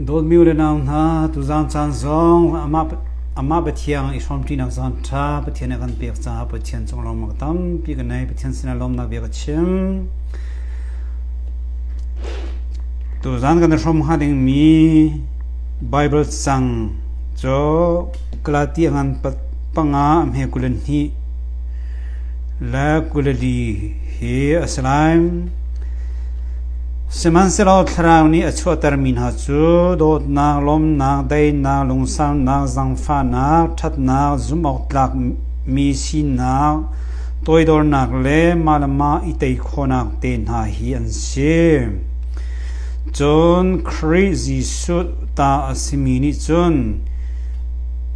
Dawtmi le nau hna tuzan caan zong amah amah Pathian i hrawm ṭinak zan ṭha Pathian a kan pek caah Pathian cung lawm a tampi ka nei Pathian sinah lawmnak bia ka chim tuzan kan hrawm ha dingmi Bible cang cu Galatia ngan panga a hme kulen hnih le kuleli hi a si lai sihmanhsehlaw thlarau nih a chuahtermi hna cu dawtnak lawmnak daihnak lungsannak zangfahnak ṭhatnak zumhawktlakmi sinak toidornak le mah le mah i tei khawhnak te hna hi an si cun Khrih Jesuh ta a simi nih cun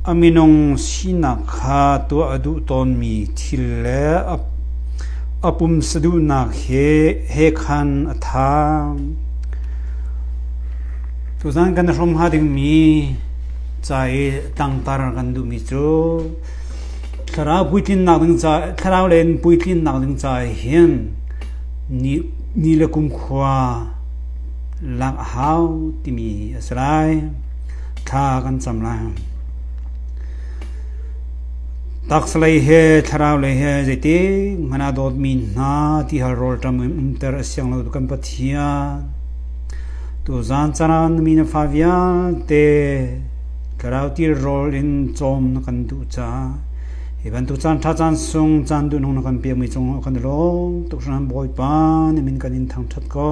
A minung sinak kha tuah a duh tawnmi thil le a pumsa duhnak he khan a thaang. Tuzaan kan i hrawmha dingmi ca i tangtar kan duhmi cu thlarau puitlinnak ding ca thlarau le in puitlinnak ding ca ah hin ni, ni le kumkhua lak a hau timi a si lai. Thla kan cam lai. Taksa lei he thlarau lei he zeitik hmanh ah dawtmi hna ti hal rawl ṭam in umter a siang lo tu kan Pathian. Tuzan caan ah na mi na fa vialte thlarau til rawl in cawm na kan duh caah hi bantuk caan ṭha caan sung caan duhnung na kan piakmi cungah kan i lawm tuk hran Bawipa nih min kan in thangṭhat ko.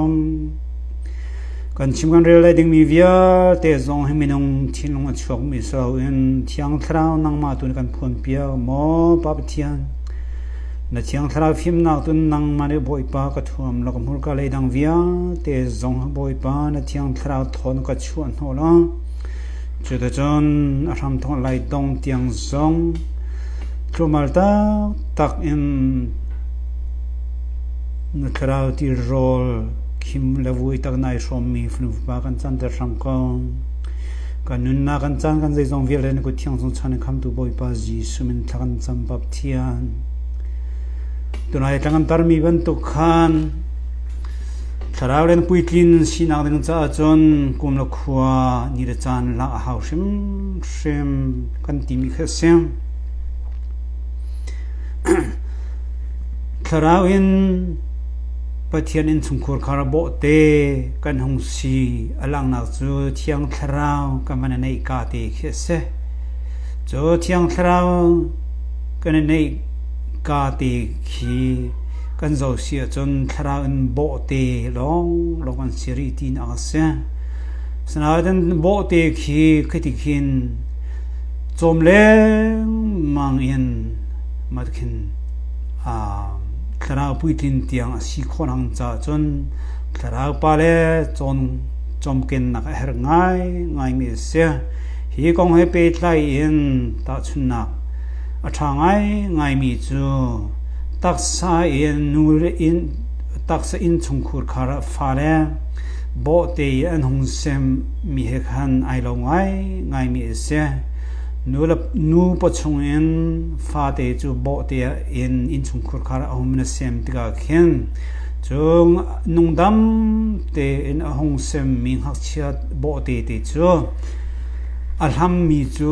Kan chim kan rel lai dingmi vialte zong hi minung thinlung a chuakmi si loin Thiang Thlarau nangmah tu nih kan phuanpiak maw Pa Pathian? Na Thiang Thlarau fimnak tu nangmah nih Bawipa ka thuam law ka hmurka lei dang vialte zong hi Bawipa na Thiang Thlarau thawn ka chuah hnawh law cuticun a hramthawk lai dong tiang zong tlumal taktak in Na thlarau tirawl khim le vui tak nai hrawmmi fanu fapa kan canter hram ko. Kan nunnak kan caan kan zeizong vialte na kut thiang chung chan in khamtu Bawipa Jesuh min thla kan cam pap thian. Tunai tlangan tarmi bantuk khan thlarau le na puitlin sinak ding caah cun kum le khua ni le caan la a hau hrim hrim kan timi kha a si. Thlarau in Pathian innchungkhur kha ra bawh te kan hung si a langhnak cu Thiang Thlarau kan van i neih ka te khi a si. Cu Thiang Thlarau kan i neih ka te khi kan zo si ahcun thlarau in bawh te lawng lawng an si rih ti nak a si. Sanaten bawh te khi khitikhin cawm lengmang in matkin Thlarau puitlin tiang a si khawh hna caah cun Thlarau Pa le cawmkennak a herh ngaingaimi a si. Hi kong he pehtlai in tahchunhnak a ṭha ngaingaimi cu taksa in nu le taksa innchungkhur khar ah fale bawhte i an hung semmi he khan ai lo ngaingaimi a si. Nu paw chungin fate cu bawhte in innchungkhur khar a hung na sem tikah khin cun nungdam tein a hung semmi ngakchia bawhte te cu a hlammi cu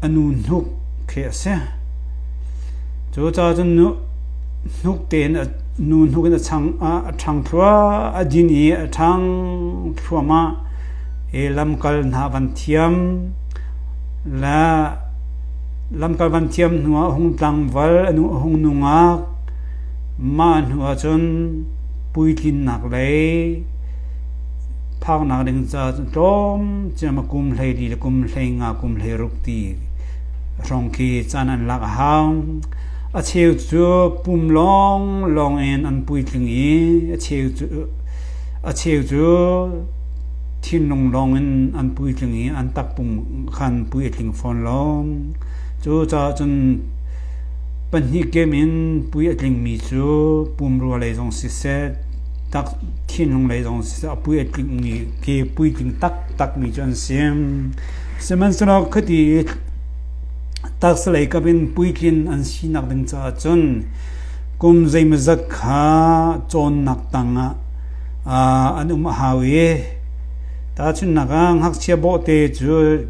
a nu hnuk khi a si cucaah cun hnuk tein a nu hnuk in a chang a ṭhang thluah a din i a ṭhang thluahmah i lamkal hna van thiam le Lam ka van thiam hnuah a hung tlangval a nu a hung nungak. Mah hnuah cun puitlinnak lei phaknak ding caah tlawm ciam a kum hlei li le kum hlei nga kum hlei ruk ti hrawng khi caan an lak a hau. A cheu cu pum lawng lawng in an puitling i a cheu cu a cheu cu Thinlung lawngin an puitling i an takpum khan pui a tling fawn lo. Cucaah cun pahnih kem in pui a tlingmi cu pumrua lei zong siseh, tak thinlung lei zong siseh, a pui a tlingmi ke puitling taktakmi cu an si. Sihmanhsehlaw khiti i taksalei kap in puitlin an sinak ding caah cun kum zeimawzat kha cawnnak tangah an um a hau i tahchunhnak ah ngakchia bawhte cu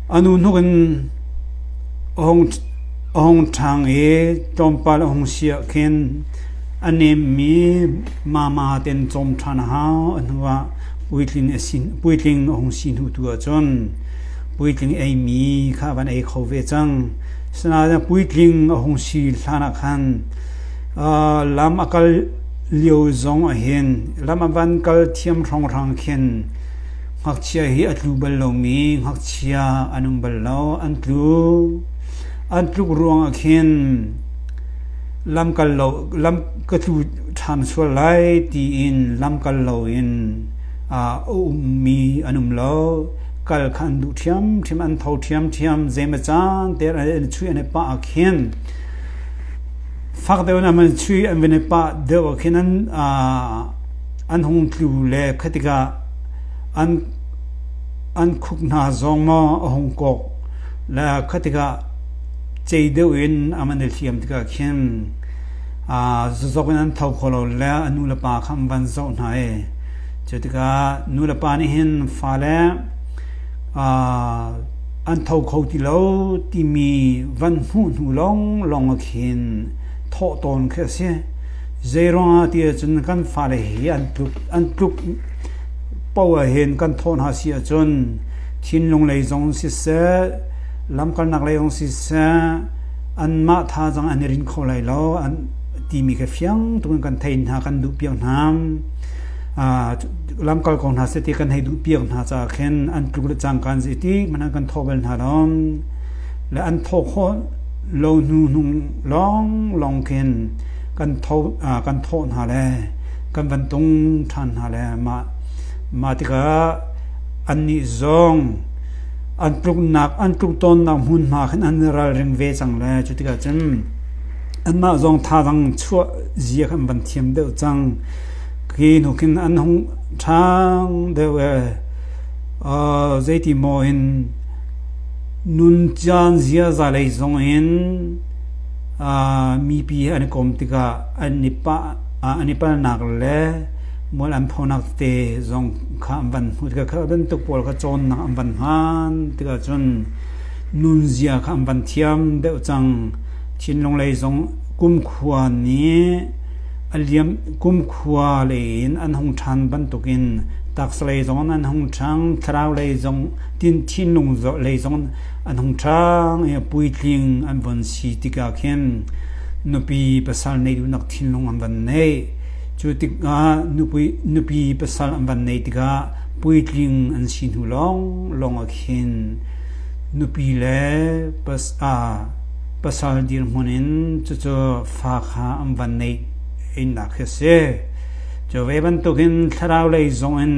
a nu hnuk in a hung ṭhang i tlawmpal a hung siah khin a nemmi mama ten cawm ṭhan a hau a hnuah puitling a hung si hnu tu ahcun puitling eimi kha a van ei kho ve cang asinain puitling a hung si hlanah khan Lam a kal lio zong ahhin lam a van kal thiam hrawnghrang khin ngakchia hi a tlu bal lomi ngakchia an um bal lo. An tlu. An tluk ruangah khin lam kal lo lam ka tlu ṭhan sual lai tiin lam kal loin a ummi an um lo. Kal kha an duh ṭhiamṭhiam, an tho ṭhiamṭhiam. Zeimacan te an i chuih an i pah ahkhin Fak deuh in an van chuih, an van i pah deuh ah khin an hung tlu le kha tikah an khuk hna zong maw a hung kawk le kha tikah cei deuh in an van i hliam tikah khin zazok in an tho kho lo le a nu le pa kha an van zoh hna i cu tikah nu le pa nih hin fale An tho kho ti lo timi van hmuh hnu lawnglawng ah khin thawh tawn khi a si. Zeiruangah tiahcun kan fale hi an tlup an tlup poah hin kan thawh hna si ahcun thinlung lei zong siseh, lamkalnak lei zong siseh, anmah thazang an i rin kho lai lo an timi kha fiang tukin kan theih hna, kan duh piak hna. lamkal ko hna seh ti kan hei duh piak hna caah khin an tluk le cangkaan zei ti man an kan thaw bal hna lom le an thaw kho lo hnu hnung lawng lawng khin kan tho kan thaw hna le kan van tung ṭhan hna le mah mah tikah annih zong an tluknak an tluk tonnak hmun hna khin an ralring ve cang le cu tikah cun anmah zong tha dang chuah zia khan van thiam deuh cang Hi hnuk hin an hung ṭhang deuh i zeiti maw in nun caan ziaza lei zong in mipi an i kawm tikah an i palnak le mual an phonak te zong kha an van hmu tikah kha bantuk pawl kha cawnnak an van hman tikah cun nunzia kha an van thiam deuh cang. Thinlung lei zong kumkhua nih A liam kumkhua lei in an hung ṭhan bantukin taksa lei zong an hung ṭhang, thlarau lei zong, thinlung lei zong an hung ṭhang i a puitling an von si tikah khin nupi pasal nei duhnak thinlung an van neih. Cu tikah nupi pasal an van neih tikah puitling an si hnu lawnglawng ah khin nupi le pasal dirhmun in cucu fa kha an van neih innak hi a si. Cu ve bantukin thlarau lei zong in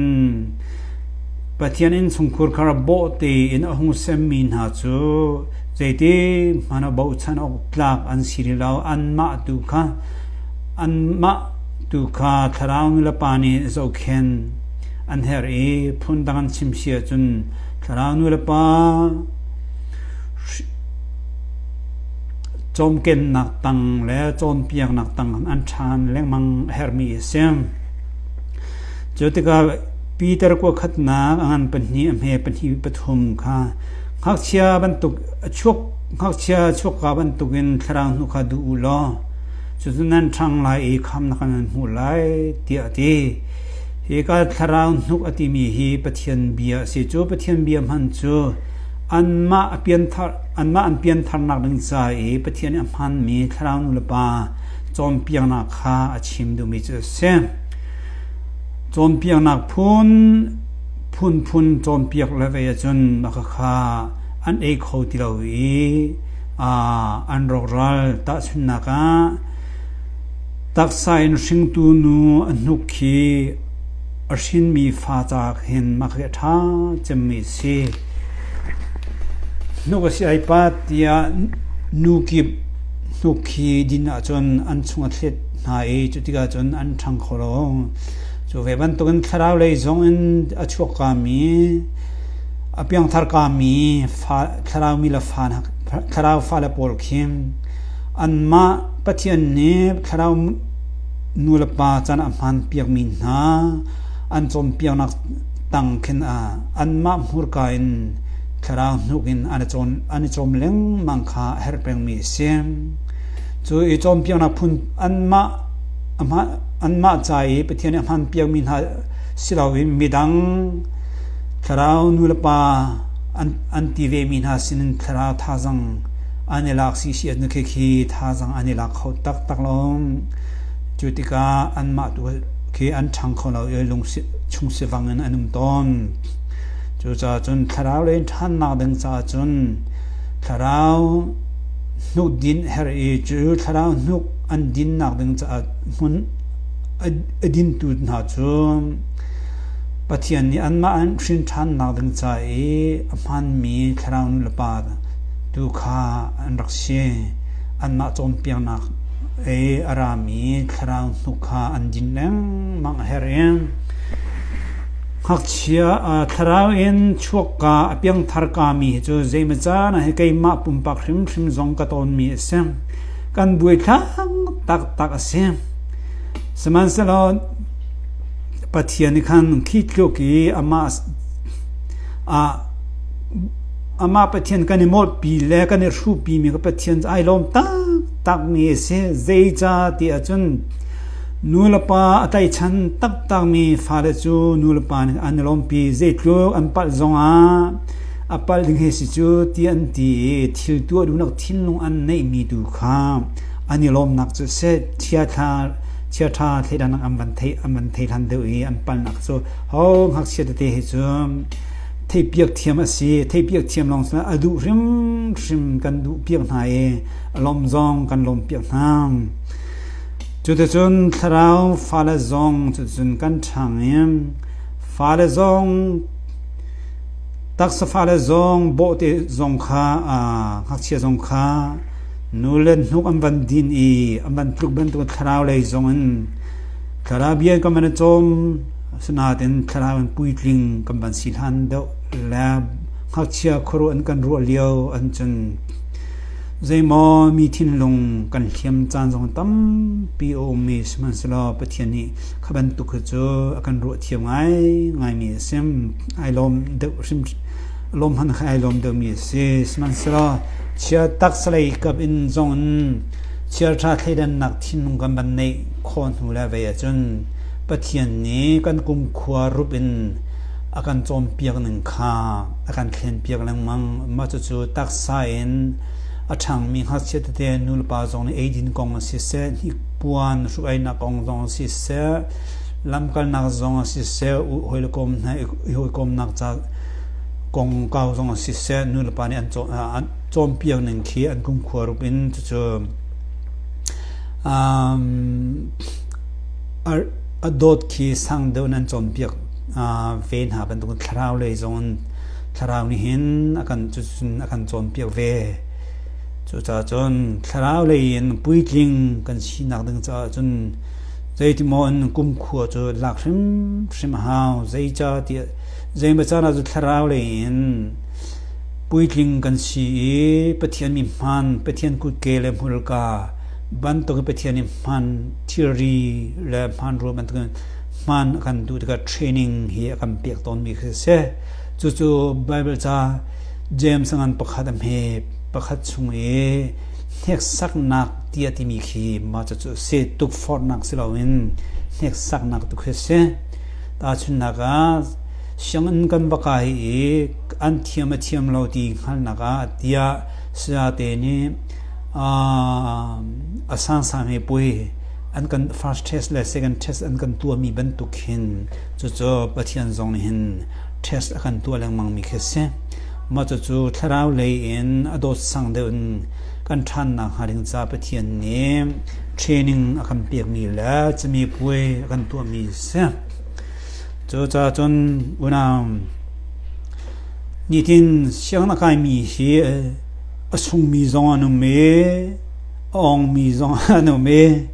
Pathian innchungkhur kha ra bawh tein a hung semmi hna cu zeiti hman a bochan awk tlak an si rih lo anmah tu kha anmah tu kha thlarau nulepa nih zohkhen an her i phundang an chim si ahcun thlarau nulepa Cawmkennak tang le cawnpiaknak tangah an ṭhan lengmang a herhmi a si. Cu tikah Peter kuakhatnak a ngan pahnih a hme pahnih pathum kha ngakchia bantuk a chuak ngakchia chuakka bantukin thlarau hnu kha duh u law cucu nan ṭhang lai i khamnak kha nan hmuh lai tiah a ti. Hi ka thlarau hnuk a timi hi Pathian bia a si. Cu Pathian bia hman cu Anmah an piantharnak ding ca i Pathian nih a hmaanmi thlarau nulepa cawnpiaknak kha a chim duhmi cu a si. Cawnpiaknak phun phunphun cawnpiak le vei ahcun mah khakha an ei kho ti lo i an rawkral. Tahchunhnak ah, taksa in hringtu nu a hnuk khi a hrinmi fa caah hin mah khi a ṭha cemmi a si. Hnuk a si ai pat tiah nu kip hnuk khi din ahcun an chung a thlet hna i cu tikah cun an ṭhang kho lo. Cu ve bantukin thlarau lei zongin a chuakkami, a piangtharkami fa- thlarau mi le fa hna- thlarau fale pawl khi anmah Pathian nih thlarau nu le pa can a hmaan piakmi hna an cawnpiaknak tang khin ah anmah hmurka in thlarau hnuk in an i cawm lengmang kha a herh pengmi a si. Cu i cawnpiaknak phun anmah anmah ca i Pathian nih a hman piakmi hna si loin midang thlarau nulepa an, an ti vemi hna sinin thlarau thazang an i lak si si nu khi khi thazang an i lak kho taktak lom cu tikah anmah tu khi an ṭhang kho lo i chung sivang in an um tawn. Cucaah cun thlarau lei ṭhannak ding caah cun thlarau hnuk din her i cu thlarau hnuk an dinnak ding caah hmun a dintu hna cu Pathian nih anmah an hrin ṭhannak ding ca i a hmaanmi thlarau nulepa tu kha an rak si. Anmah cawnpiaknak Ei a rami thlarau hnuk kha an din lengmang a herh i ngakchia thlarau in chuakka a piangthar kami hi cu zeimaw caan ah hi keimah pumpak hrimhrim zong ka tawnmi a si. Kan buaithlak taktak a si. Sihmanhsehlaw Pathian nih khan khi tluk i amah ah Amah Pathian kan i mawhpi le kan i hruhpimi ka Pathian cu ai lawm taktakmi a si. Zeicah ti ahcun nulepa a tlaihchan taktakmi fale cu nulepa nih an i lawmpi. Zeitluk an palh zongah a palh ding hei si cu ti an ti i thil tuah duhnak thinlung an neihmi tu kha an i lawmnak cu a si. Chiaṭha chiaṭha thleidannak an van thei an van thei hlan deuh i an palhnak cu ho ngakchia tete he cun theihpiak thiam a si. Theihpiak thiam lawng sinah a duh hrimhrim kan duhpiak hna i a lawm zong kan lawmpiak hna. Cuticun thlarau fale zong cucun kan ṭhang i fale zong taksa fale zong bawhte zong kha ngakchia zong kha nu le hnuk an van din i an van tluk bantuk thlarau lei zong in thlarau bia kan van i cawm. Asinain thlarau in puitling kan van si hlan deuh le ngakchia khuaruah an kan ruah lio an cun zeimaw mi thinlung kan hliam caan zong tampi a ummi sihmanhsehlaw Pathian nih kha bantuk hi cu a kan ruah thiam ngai ngaimi a si ai lawm deuh hrim lawm hman kha ai lawm deuhmi a si sihmanhsehlaw chia taksalei kap in zong in chialṭha thleidannak thinlung kan van neih khawh hnu le vei ahcun Pathian nih kan kumkhua rup in a kan cawnpiak ning kha a kan thlenpiak lengmang. Mah cucu taksa in a ṭhangmi ngakchia tete nulepa zong nih eidin kong ah siseh, hnikpuan hruk-einak kong zong ah siseh, lamkalnak zong ah siseh, hawile kawm hna i hawikomnak ca kongkau zong ah siseh nulepa nih an cawnpiak ning khi an kumkhua rup in cucu A dawt khi sang deuh in an cawnpiak ve hna bantuk thlarau lei zong in thlarau nih hin a kan cucun a kan cawnpiak ve. Cucaah cun thlarau lei in puitling kan sinak ding caah cun zeiti maw in kumkhua cu lak hrimhrim a hau. Zeica tiah zeimaw caan ah cu thlarau lei in puitling kan si i Pathian mi hmaan, Pathian kutke le hmurka Bantuk hi Pathian nih hman thilri le hmanrua bantukin hman a kan duh tikah training hi a kan pek tawnmi khi a si. Cucu Baibal ca James a ngan pakhat a hme pakhat chung i hneksaknak tiah timi khi mah cucu a si. Tukforhnak si loin hneksaknak tu khi a si. Tahchunhnak ah sianginn kan va kai i an thiam a thiam lo ti hngalnak ah tiah sayate nih a sangsang he puai an kan first test le second test an kan tuahmi bantuk hin cucu Pathian zong nih hin test a kan tuah lengmang mi khi si mah cucu thlarau lei in a dawt sang deuh in kan ṭhan nak hnga ding ca Pathian nih training a kan pek mi le cumi puai a kan tuah mi si cucaah cun unau nitin siang na kai mi hi A sungmi zong an um i a awngmi zong an um i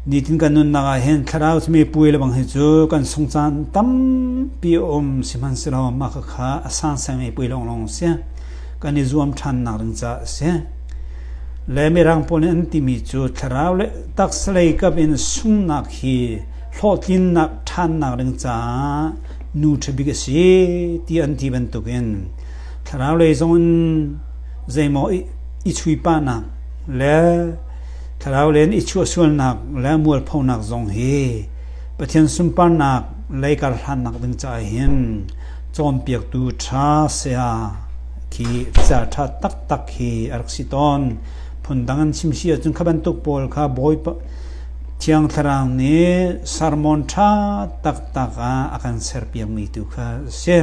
nitin kan nunnak ah hin thlarau cumi puai le bang hi cu kan sung caan tampi a um sihmanhsehlaw mah khakha a sansangmi puai lawnglawng si kan i zuam ṭhannak ding caah a si le mirang pawl nih an timi cu thlarau le taksa lei kap in sungnak hi hlawhtlinnak ṭhannak ding caah nu ṭhabik a si ti an ti bantukin thlaraulei zong in zeimaw i chuihpahnak le thlaraulei in i chuahsualnak le mualphonak zong hi Pathian sunparnak lei kar hlannak ding caah hin cawnpiaktu ṭha saya khi thil ṭha taktak hi a rak si tawn phundang an chim si ahcun kha bantuk pawl kha bawipa thiang thlarau nih sermon ṭha taktak ah a kan serpiakmi tu kha a si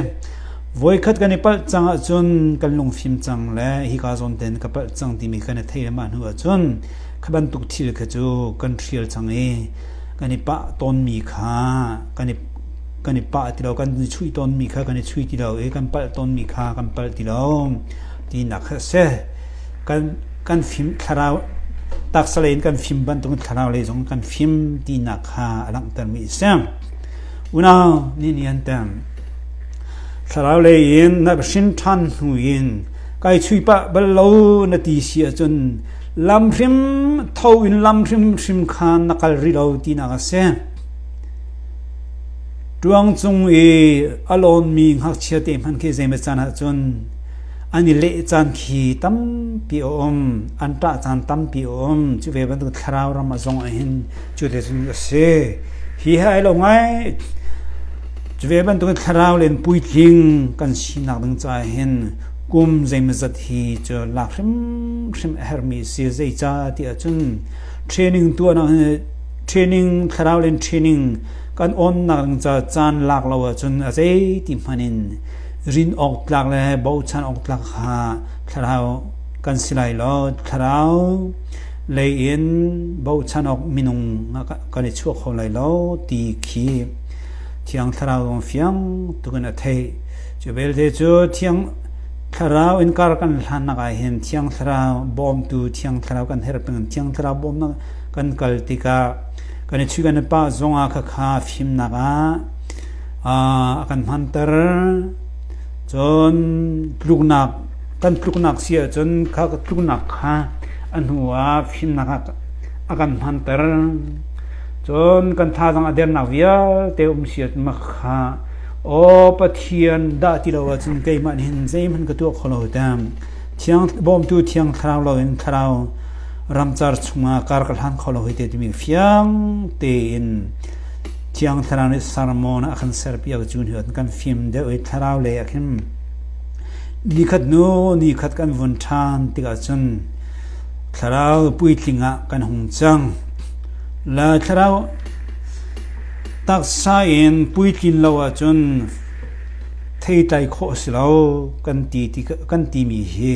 Voikhat kan i palh cang ahcun kan lungfim cang le hika zawn ten ka palh cang timi kan i theihthiamah hnu ahcun kha bantuk thil kha cu kan hrial cang i kan i pah tawnmi kha kan i kan i pah ti lo kan i chuih tawnmi kha kan i chuih ti lo i kan palh tawnmi kha kan palh ti lo tinak kha a si. Kan kan fim thlarau taksa lei in kan fim bantuk in thlarau lei zong kan fim tinak kha a langhtermi a si. Unau nih ni an tam. Thlarau lei in na va hrin ṭhan hnu in kai chuih pah bal lo na ti si ahcun lam hrim tho in lam hrimhrim kha na kal rih lo tinak a si. Ṭuang cung i a lawnmi ngakchia te hmanh khi zeimaw caan ahcun an i leh caan khi tampi a um an ṭah caan tampi a um cu ve bantuk thlarau ram a zong ahhin cu le cun a si hi hai lo ngai Cu ve bantukin thlarau le in puitling kan sinak ding caah hin kum zeimazat hi cu lak hrimhrim a herhmi a si. Zeicah ti ahcun training tuahnak hi training thlarau le in training kan awnnak ding caah caan lak lo ahcun a zeiti hmanh in rin awk tlak le bochan awk tlak kha thlarau kan si lai lo. Thlarau lei in bochan awk minung ah kan i chuah kho lai lo ti khi Thiang Thlarau zong fiang tukin a theih. Cu belte cu Thiang Thlarau inkar kan hlannak ah hin Thiang Thlarau bawmtu Thiang Thlarau kan herh pengin Thiang Thlarau bawmnak kan kal tikah kan i chuih kan i pah zongah khakha fimnak ah ah a kan hmanter. Cun tluknak kan tluknak si ahcun kha tluknak kha a hnuah fimnak ah a kan hmanter. Cun kan thazang a dernak vialte um siatmak kha Aw Pathian dah ti lo ahcun keimah nih hin zeihmanh ka tuah kho lo tang. Thiang bawmtu thiang thlarau loin thlarau ramcar chungah kar ka hlan kho lo hoi te timi fiang tein thiang thlarau nih sermon a kan serpiak cu ni kan fim deuh i thlarau lei ah khin ni khat nu ni khat kan vun ṭhan tikah cun thlarau puitling ah kan hung cang. La thlarau taksa in puitlin lo ahcun theitlai khawh a si lo kan ti ti kan timi hi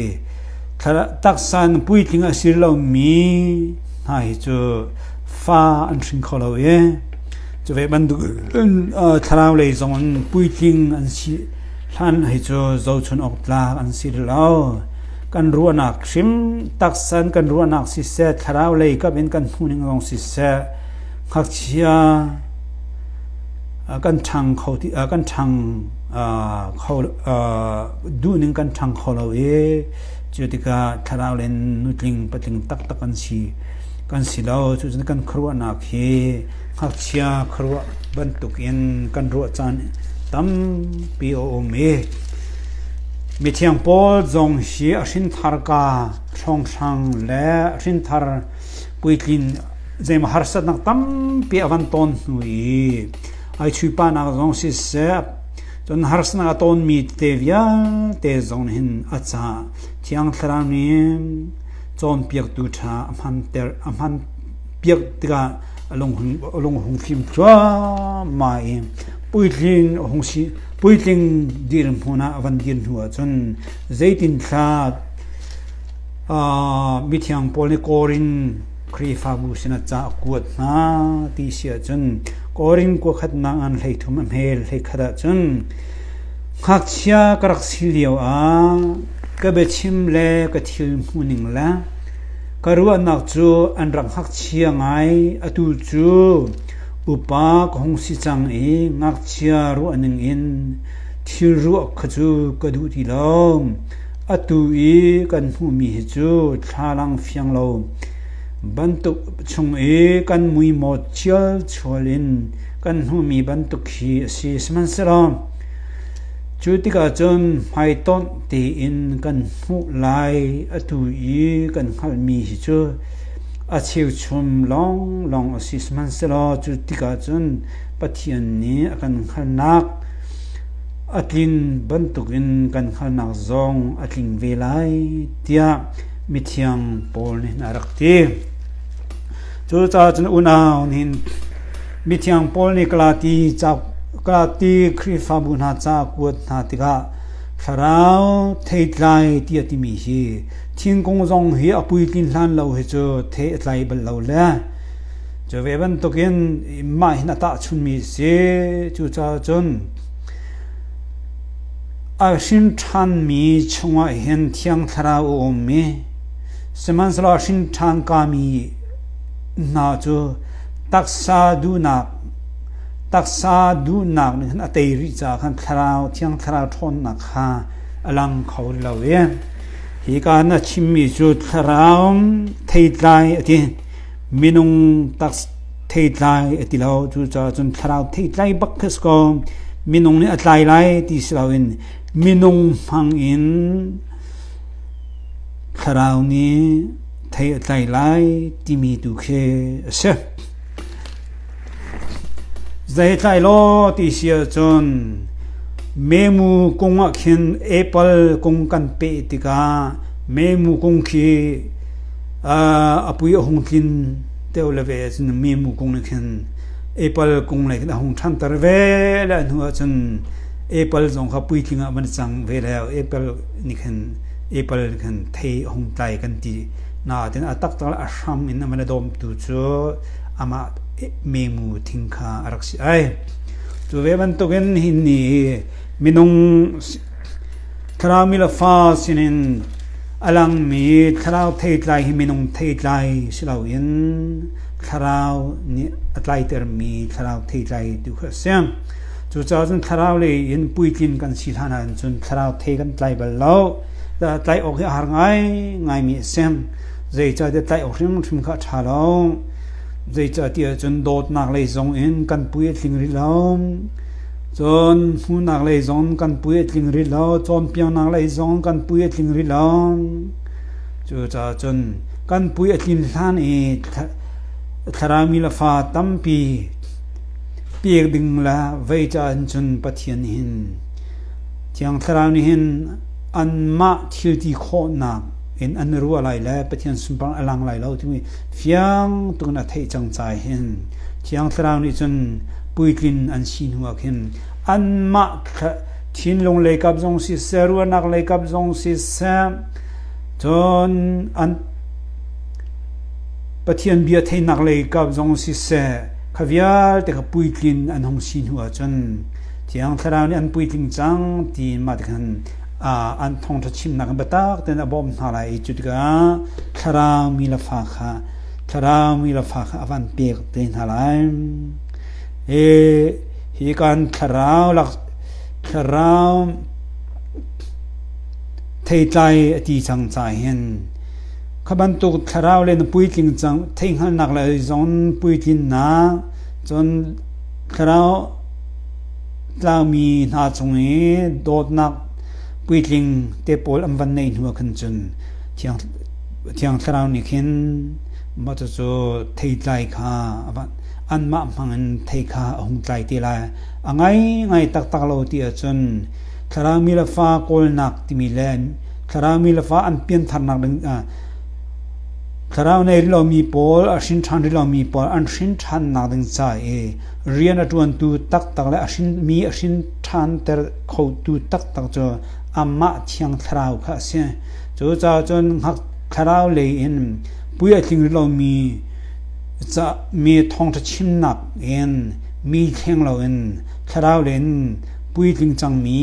taksa in puitling a si lomi hna hi cu fa an hring kho lo i cuve bantuk in thlarau lei zong in puitling an si hlan hi cu zohchunh awk tlak an si rih lo. kan ruahnak hrim taksa in kan ruahnak siseh thlarau lei kap in kan hmuhning zong siseh ngakchia kan ṭhang kho ti kan ṭhang kho duhning kan ṭhang kho lo i cu tikah thlarau le nutling patling taktak an si kan si lo cucun kan khuaruahnak hi Ngakchia khuaruah bantukin kan ruah caan tampi a um i mithiang Paul zong hi a hrintharka hrawnghrang le a hrinthar puitlin zeima harsatnak tampi a kan ton hnu i ai chuihpahnak zong siseh cun harsatnak a tonmi te vialte zong nih hin a caah thiang thlarau nih cawnpiaktu ṭha a hmanter a hman piak tikah a lung hung fim thluahmah i puitling a hung si puitling dirhmun hmun ah a van dir hnu ahcun zeitinthla mithiang paul nih korin khrihfabu sinah ca a kuat hna ti si ahcun korin kua khatnak an hlei thum a hmel hlei khat ahcun ngakchia ka rak si lio ah ka biachim le ka thil hmuhning le Ka ruahnak cu an rak ngakchia ngai, atu cu upa ka hung si cang i ngakchia ruah ningin thil ruah kha cu ka duh ti lo. Atu i kan hmuhmi hi cu thlalang fiang lo bantuk chung i kan muimawt ṭhialṭhual in kan hmuhmi bantuk khi a si, sihmanhsehlaw Cu tikah cun hmaitonh tein kan hmuh lai atu i kan hngalhmi hi cu a cheuchum lawnglawng a si, sihmanhsehlaw cu tikah cun Pathian nih a kan hngalhnak a tlin bantukin kan hngalhnak zong a tling ve lai, tiah mithiang Paul nih a rak ti. Cucaah cun unau nih hin Mithiang Paul nih Galati Khrihfabu hna ca a kuat hna tikah thlarau theitlai ti a timi hi thingkung zong hi a puitlin hlan lo hi cu thei a tlai bal lo le cu ve bantukin mah hin a tahchunmi a si. Cucaah cun a hrinṭhanmi chungah hin thiang thlarau a ummi sihmanhsehlaw a hrinṭhan kami hna cu Taksa duhnak nih cun a tei rih caah khan Thiang Thlarau ṭhawnnak kha a lang kho lo i hika na chimmi cu Thlarau theitlai a ti, minung theitlai a ti lo. Cucaah cun Thlarau theitlai bak khi a si ko. Minung nih a tlai lai ti si loin minung hmang in Thlarau nih thei a tlai lai timi tu khi a si. Zei tlai lo ti si ahcun memu kung ah khin apple kung kan pe tikah memu kung khi apui a hung tlin teo le ve cun memu kung nih khin apple kung lei a hung than ter ve le hnu ah cun apple zong kha pui tling ah van cang ve le apple nih khin Apple kan thei hung tlai kan ti. Nain a tak tak a hram in a man a dawmtu cu amah memu thing kha a rak si ai. Cu ve bantukin hin ni minung thlarau la fa sinin a langmi thlarau theitlai hi minung theitlai si loin thlarau nih a tlaitermi thlarau theitlai tu kha a si. Cucaah cun thlarau lei in puitlin kan si hlan ah cun thlarau thei kan tlai bal lo. Tlai awk hi a har ngai ngaimi a si. Zeicahtiah tlai awk hrimhrim kha a ṭha lo. Zeicahtiah cun dawtnak lei zong in kan pui a tling rih lo. Cun hmuhnak lei zong kan pui a tling rih lo. Cawnpiaknak lei zong kan pui a tling rih lo. Cucaah cun kan pui a tlin hlan i thlarau mi le fa tampi pek ding le zeicaah hin cun Pathian nih hin Thiang Thlarau nih hin anmah thilti khawhnak in an i ruah lai le Pathian sunparang a lang lai lo timi fiang tukin a theih cang cai hin Thiang Thlarau nih cun puitlin an si hnu ah khin anmah thinlung lei kap zong siseh ruahnak lei kap zong siseh cun an Pathian bia theihnak lei kap zong siseh Kha vialte kha puitlin an hung si hnu ahcun Thiang Thlarau nih an puitling cang ti in mah tikhan an thawngṭha chimnak in biatak tein a bawmh hna lai i cu tikah thlarau mi le fa kha thlarau mi le fa kha a van pek te hna lai. E hi kan thlarau lak thlarau theitlai a ti cang ca hin Kha bantuk thlarau le na puitling cang theihhngalhnak lei zong puitlinnak cun thlarau tlaumi hna chung i dawtnak puitling te pawl an van neih hnuah khan cun Thiang Thlarau nih khin mah cucu theitlai kha anmah hmangin thei kha a hung tlai te lai. A ngaingai taktak lo ti ahcun thlarau mi le fa kawlnak timi le thlarau mi le fa an piantharnak dingah thlarau nei rih lomi pawl a hrin ṭhan rih lomi pawl an hrin ṭhannak ding ca i rian a ṭuantu taktak le a hrin mi a hrin ṭhanter khotu taktak cu amah thiang thlarau kha a si cucaah cun ngak thlarau lei in pui a tling rih lomi ca me thawngṭha chimnak in mi thleng loin thlarau lei in puitling cangmi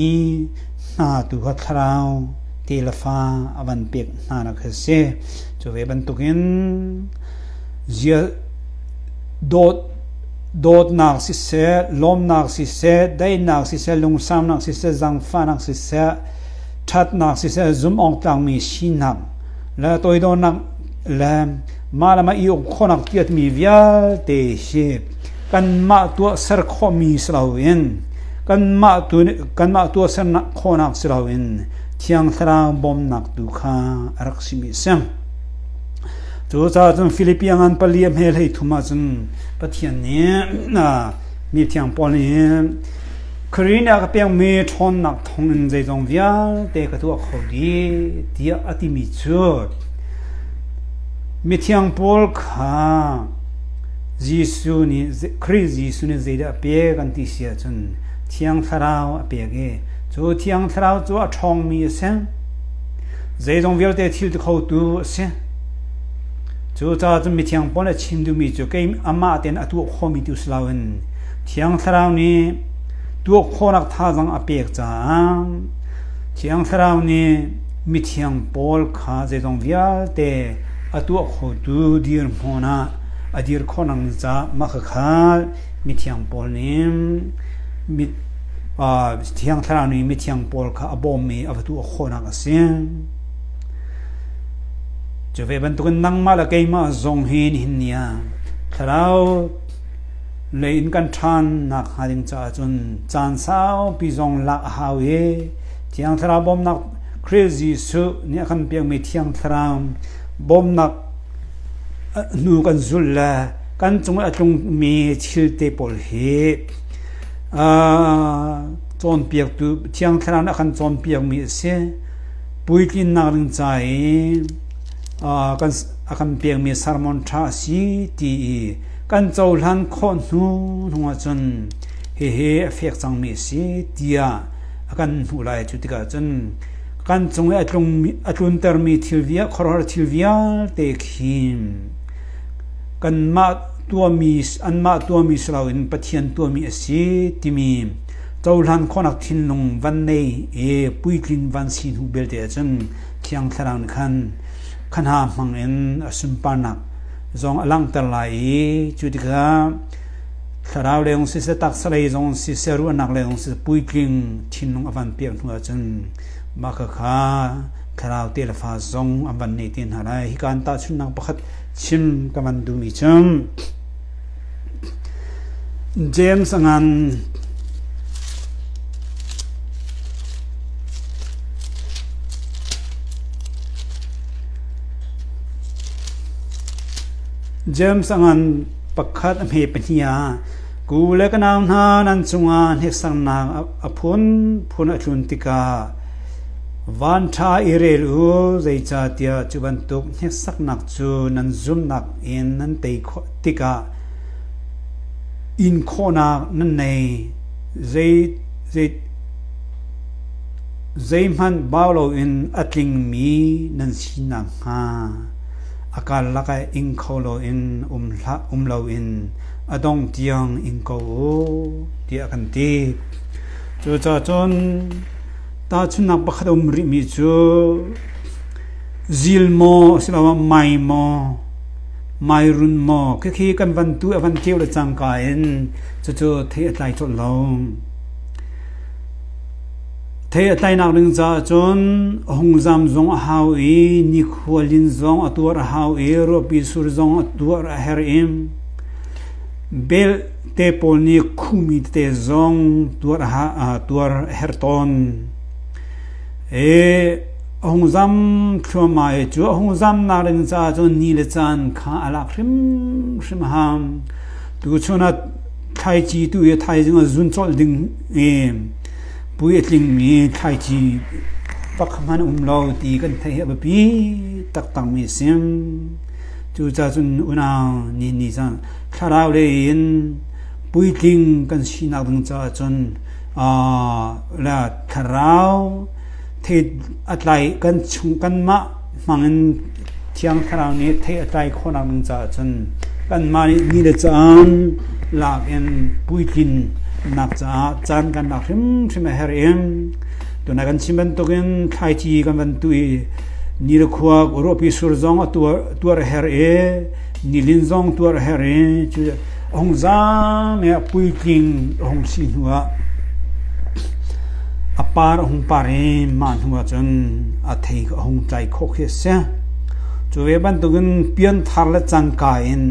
hngatu kha thlarau tefa a van pek hnanak khi a si cu ve bantukin dawt dawtnak siseh lawmnak siseh daihnak siseh lungsamnak siseh zangfahnak siseh thatnak siseh zumawng tlangmi sinak le toidornak le mah le mah i uk khonak tiatmi vialte hi kanmah tuahser khawhmi si loin kanmah tu kanmah tuahser khawhnak si loin Thiang Thlarau bawmnak tu kha a rak simi a si. Cucaah cun Philippian ngan pali a hme hlei thum ah cun Pathian nih mi thiang Paul nih Korin ah ka pengmi ṭhawnnak thong in zeizong vialte ka tuah kho di tiah a timi cu mithiang Paul kha Jesuh nih Khrih Jesuh nih zeidah a pek an ti si ahcun Thiang Thlarau a pek i cu Thiang Thlarau cu a ṭhawngmi a si. Zeizong vialte thil ti khotu a si. Cucaah cun mithiang Paul nih a chim duhmi cu amah tein a tuah khawhmi tu si loin Thiang Thlarau nih tuah khawhnak thazaang a pek caah Thiang Thlarau nih mithiang Paul kha zeizong vialte a tuah khotu dirhmun ah a dir khawhnak ca makhakha mithiang paul nih thiang thlarau nih mithiang paul kha a bawm i a vatu a khawhnak a si cu ve bantukin nangmah le keimah zong hi nihin niah thlarau le in kan ṭhan nak hnga ding caah cun caan saupi zong lak a hau i thiang thlarau bawmnak Khrist Jesuh nih a kan pekmi thiang thlarau bawmnak hnu kan zulh le kan cung i a tlungmi thilte pawl hi cawnpiaktu Thiang Thlarau nih a kan cawnpiakmi a si. Puitlinnak ding ca i a kan pekmi sermon ṭha a si ti i kan cohlan khawh hnu hnuah cun hihi a fek cangmi a si tiah a kan hmuh lai. Cu tikah cun kan cung i a tluntermi thilvi ah khuaruahhar thil vialte khi kanmah tuahmi anmah tuahmi si loin Pathian tuahmi a si timi cohlan khawhnak thinlung van nei i puitlin van si hnu belte ahcun thiang thlarau nih khan khanha hmangin a sunparnak zong a langhter lai i cu tikah Thlarau lengawng siseh, taksa lei zong siseh, ruahnak lengawng siseh, puitling thinlung a van piah hnu ahcun mah khakha thlarau te le fa zong an van neh te hna lai. Hika an tahchunhnak pakhat chim ka van duhmi cu James a ngan James a ngan Pakhat a hme pahnih ah ku le ka nau hna nan cungah hneksaknak a phunphun a tlun tikah van ṭha i rel u, zeicahtiah cu bantuk hneksaknak cu nan zumhnak in nan tei khawh tikah inkhawhnak nan ngei. Zeihmanh bau loin a tlingmi nan si nakhnga. A karlak ah ing kho loin um hlah um loin a dongh tiang ing ko u tiah kan ti. Cucaah cun tahchunhnak pakhat a um rihmi cu zil maw asiloah mai maw mairun maw khikhi kan van tu a van keu le cangka in cucu thei a tlai colh lo. Thei a tlainak ding caah cun a hungzam zong a hau i nikhual inn zong a tuar a hau i ruahpi sur zong a tuar a herh i belte pawl nih khuhmi tete zong tuar a herh tawn. Hi a hungzam thluahmah hi cu a hungzamnak ding caah cun ni le caan kha a lak hrimhrim a hau. Tuchun ah thlaici tu hi thaizing ah zun colh ding i Pui a tlingmi thlaici pakhat hmanh a um lo ti kan theih hi a biapi taktakmi a si. Cucaah cun unau nih ni zan thlarau lei in puitling kan sinak ding caah cun le thlarau thei a tlai kan chung kanmah hmangin Thiang Thlarau nih thei a tlai khawhnak ding caah cun kanmah nih ni le caan lak in puitlinnak caah caan kan lak hrimhrim a herh i tuna kan chim bantukin thlaici kan van tui ni le khuak ruahpi sur zong a tuar tuar a herh i Nilin zong tuar a herh i cu a hung zaam i a puitling a hung si hnuah a par a hung par i mah hnuah cun a thei a hung tlai khawh khi a si. Cu ve bantukin pianthar le canka in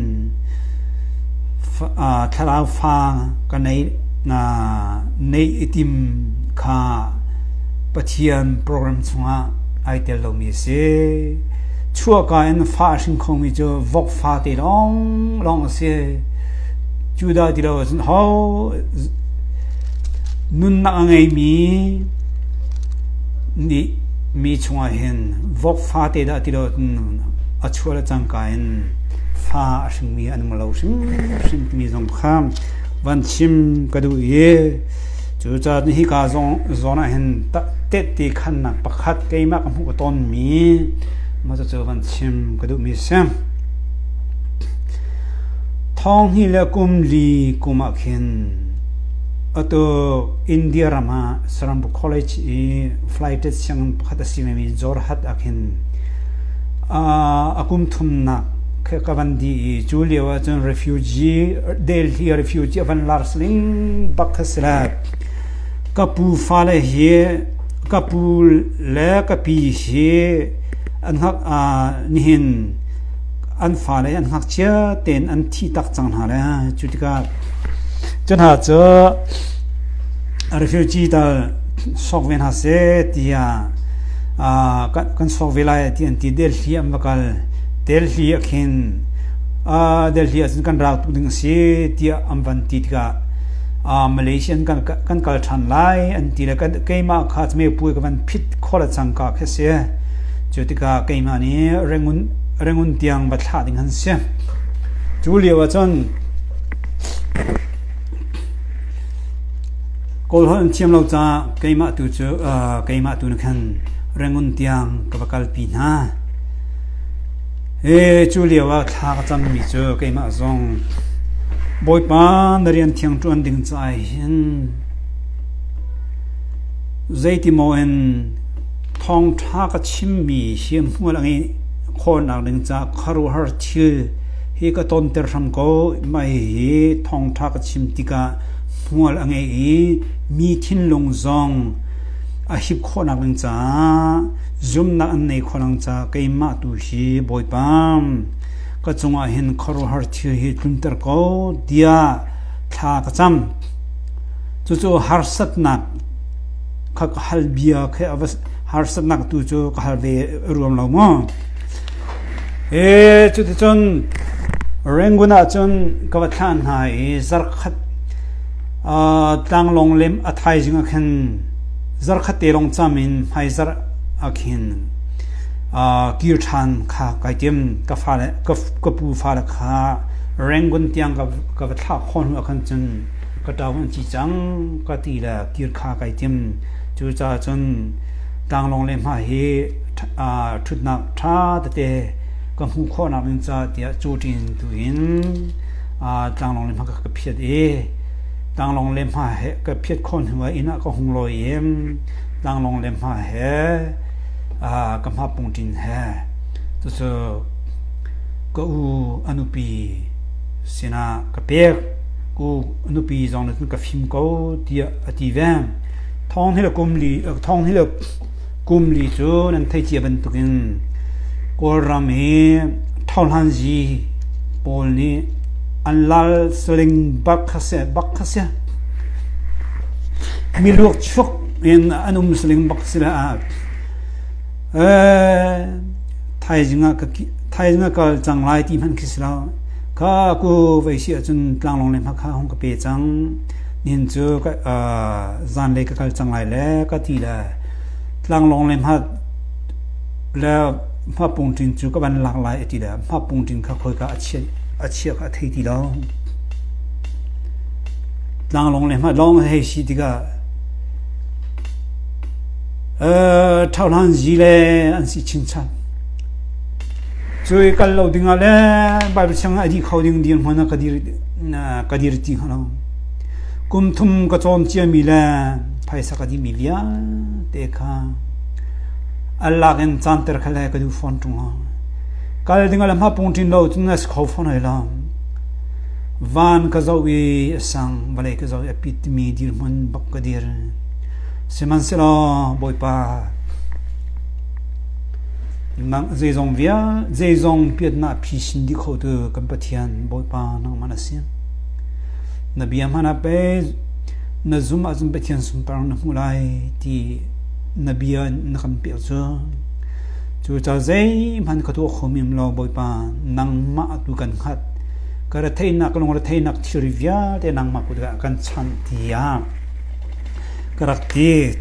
thlarau fa ka nei nei i tim kha Pathian program chungah ai tel lomi a si. chuahka in fa a hring khomi cu vok fate lawnglawng a si. Judah ti lo ahcun ho nunnak a ngeimi nih mi chungah hin vok fate dah ti lo a chuah le cangka in fa a hringmi an um lo hrimhrim timi zong kha van chim ka duh i Cucaah hika zawn ah hin tehte khannak pakhat keimah ka hmuh ka tawnmi mah cu van chim ka duhmi a si. Thong hi le kum li kum ah khin atu India ram ah saram bu college i flighted sianginn pakhat a si vemi Jorhat ah khin a kum thumnak ka van di i cu lio ah cun refugee Delhi refugee a van lars ning bak kha si lai ka pu fale hi ka pu le ka pi hi an ngak nihin an fale an ngak cia ten an thi tak cang hna le cu tikah cu hna cu refugee tal sok ve hna seh tiah kan sok ve lai ti an ti Delhi an va kal Delhi ah khin Delhi ah cun kan raltuk ding a si tiah an van ti tikah Malaysia in kan kal ṭhan lai an ti le keimah kha Cmepuai ka van phit khawh le cangka khi a si. Cu tikah keimah nih Rangoon tiang va thlah ding an si. Cu lio ah cun Kawlholh an thiam lo caah keimah tu cu keimah tu nih khan Rangoon tiang ka va kalpi hna. Cu lio ah thla ka cammi cu keimah zong Bawipa na rian thiang ṭuan ding caah hin zeiti maw in thawngṭha ka chimmi hriamhmual a ngeih khawhnak ding caah khuaruahhar thil hi ka tonter hram ko. Mah hi thawngṭha ka chim tikah hmual a ngei i mi thinlung zong a hip khawhnak ding caah Zumnak an nei kho lang ca keimah tu hi Bawipa ka cungah hin khuaruahhar thil hi tlunter ko tiah thla ka cam. Cucu harsatnak kha ka hal bia kha a va harsatnak tu cu ka hal ve ruam lo maw? E cuticun Rangoon ah cun ka va thlah hna i zarkhat uh, tlanglawng lem a thaizing ah khin Zarhkhatte lawng cam in hmaizarh ah khin kir ṭhan kha kai tim. Ka pu fale kha Rangon tiang ka va thlah khawh hnu ah khan cun ka ṭaung an ci cang ka ti le kir kha kai tim. Cucaah cun tlanglawng le hma hi ṭhutnak ṭha tete ka hmuh khawhnak ding caah tiah cu ṭin tuin tlanglawng le hma ka phiat i Tlanglawng le hma he ka phiat khawh hnu ah inn ah ka hung lawi i tlanglawng le hma he ka hma pungṭin he cucu ka u a nupi sinah ka pek u a nupi zong nih cun ka fim ko tiah a ti ve thawng hi le kum li thawng hi le Kum li cu nan thei cia bantukin Kawlram hi thohlan zi pawl nih an lal saling bak kha seh bak kha si. Miluak chuk in an um saling bak si lah. Thaizing ah ka thaizing ka cang lai ti hman khi si lo. Ka ku vai si ahcun tlanglong le hmakha hong ka pe cang. Inn cu zanlei ka kal cang lai le ka ti le tlanglawng le hmapung ṭin cu ka van lak lai a ti le hmapung ṭin kha khoika a chia kha a thei ti lo. Tlanglawng le lawng hei si tikah ṭhauhlan zi le an si chinchan. Cu i kal lo dingah le Baibal sianginn a dih kho ding dirhmun ah ka dir na ka dir ti lo kum thum ka cawm ciami le phaisa ka dihmi vialte kha Allah in canter kha le ka du phone tung ha kal ding ala ma pung tin lo tun na kho phone hai la van ka zo i sang vale ka zo e pit mi dir mun bok ka dir siman selo boy pa Nangmah zeizong vialte, zeizong piatnak phi sin dih kho tu kan Pathian Bawipa nangmah na si. Na bia hmanh ah pei na zum ahcun Pathian sunparnak na hmuh lai ti na bia na kan pek cu. Cucaah zeihmanh ka tuah kho men lo Bawipa nangmah tu kan hngat. Ka retheihnak lungretheihnak thilri vialte nangmah kut ah kan chanh tiah ka rak ti.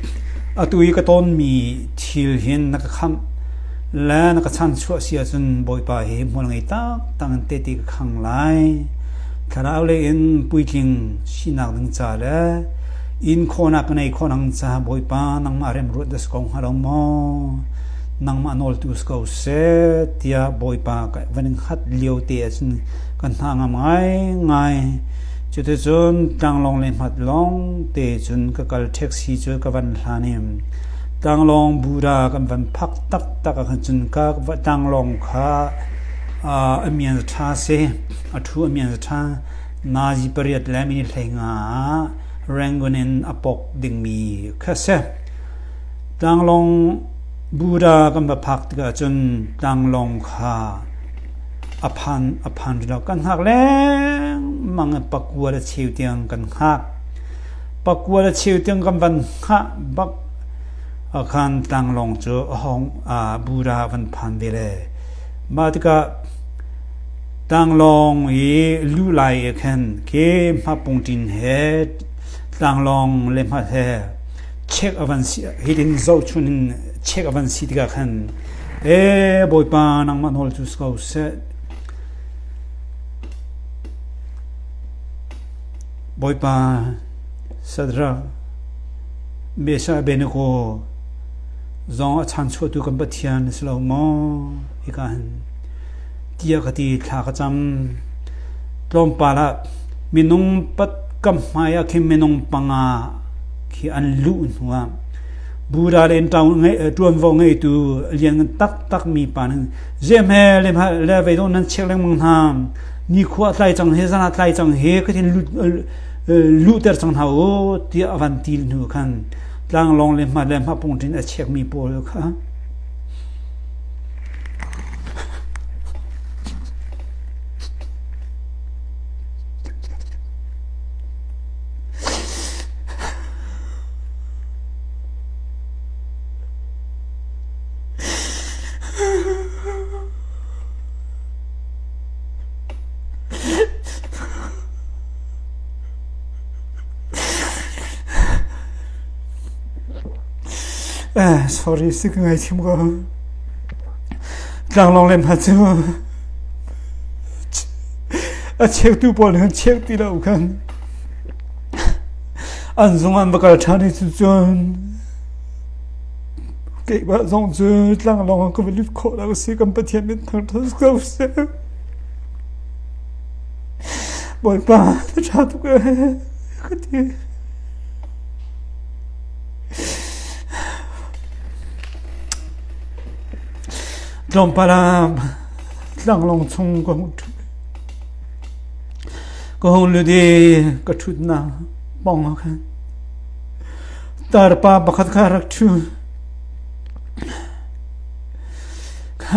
Atu i ka tonmi thil hin na ka khamh le na ka chanchuah si ahcun Bawipa hi hmual ngei taktak in tehte ka khang lai. Thlarau lei in puitling sinak ding ca le in khawnak ka nei khawnak ca Bawipa nangmah rem ruat da su ko hnga lo maw nangmah nawltu si ko seh tiah Bawipa ka van in khat lio te ahcun kan hna ngam ngai ngai cuticun tlanglong le hmat long te cun ka kal taxi cu ka van hlan i Tlanglawng Buddha kan van phak taktak ahkhan cun tlanglawng kha a mian a ṭha si. A ṭhu a mian a ṭha. Nazi pariat le minihlei nga ah Rangon in a pawk dingmi kha a si. Tlanglawng Buddha kan va phak tikah cun tlanglawng kha a phan a phan rih lo. Kan hngak lengmang i pakua le cheu tiang kan hngak. Pakua le cheu tiang kan van hngah bak ahkhan tlanglawng cu a hong bura van phan ve le mah tikah tlanglawng i luh lai ah khan ke hmapung ṭin he tlanglawng le hmat he check a van si hitin zohchun in check a van si tikah khan ee Bawipa nangmah nawl cu si ko seh Bawipa Sadrach, Meshach Abednego zong a chanchuahtu kan Pathian na si lo maw? Hika hin tiah ka ti thla ka cam. Tlawmpal ah minung pat kam hmai ah khin minung panga khi an luh hnu ah Buddha le ṭaun ngei ṭuanvo ngeitu lian taktak mi pa nih zemhe le le vei dawh nan chek lengmang hna Nikhua a tlai cang he, zan ah tlai cang he ka thin luhter cang hna u tiah a van ti hnu khan tlanglawng le hmat le hmapung ṭin a checkmi pawl kha Tlanglawng le hna cu a cheutu pawl nih an cheuh ti lo kan an zung an va kal ṭhan i cucun Keimah zong cu tlanglawng ah ka va lut khawh lo a si. Kan Pathian min hna ṭha ko seh. Bawipa, na ṭha tuk ee, ka ti. Tlawmpal ah tlanglawng chung ka hung ṭhut. Ka hung lut i ka ṭhutnak pawng ah khan Tarpa pakhat kha rak ṭhu.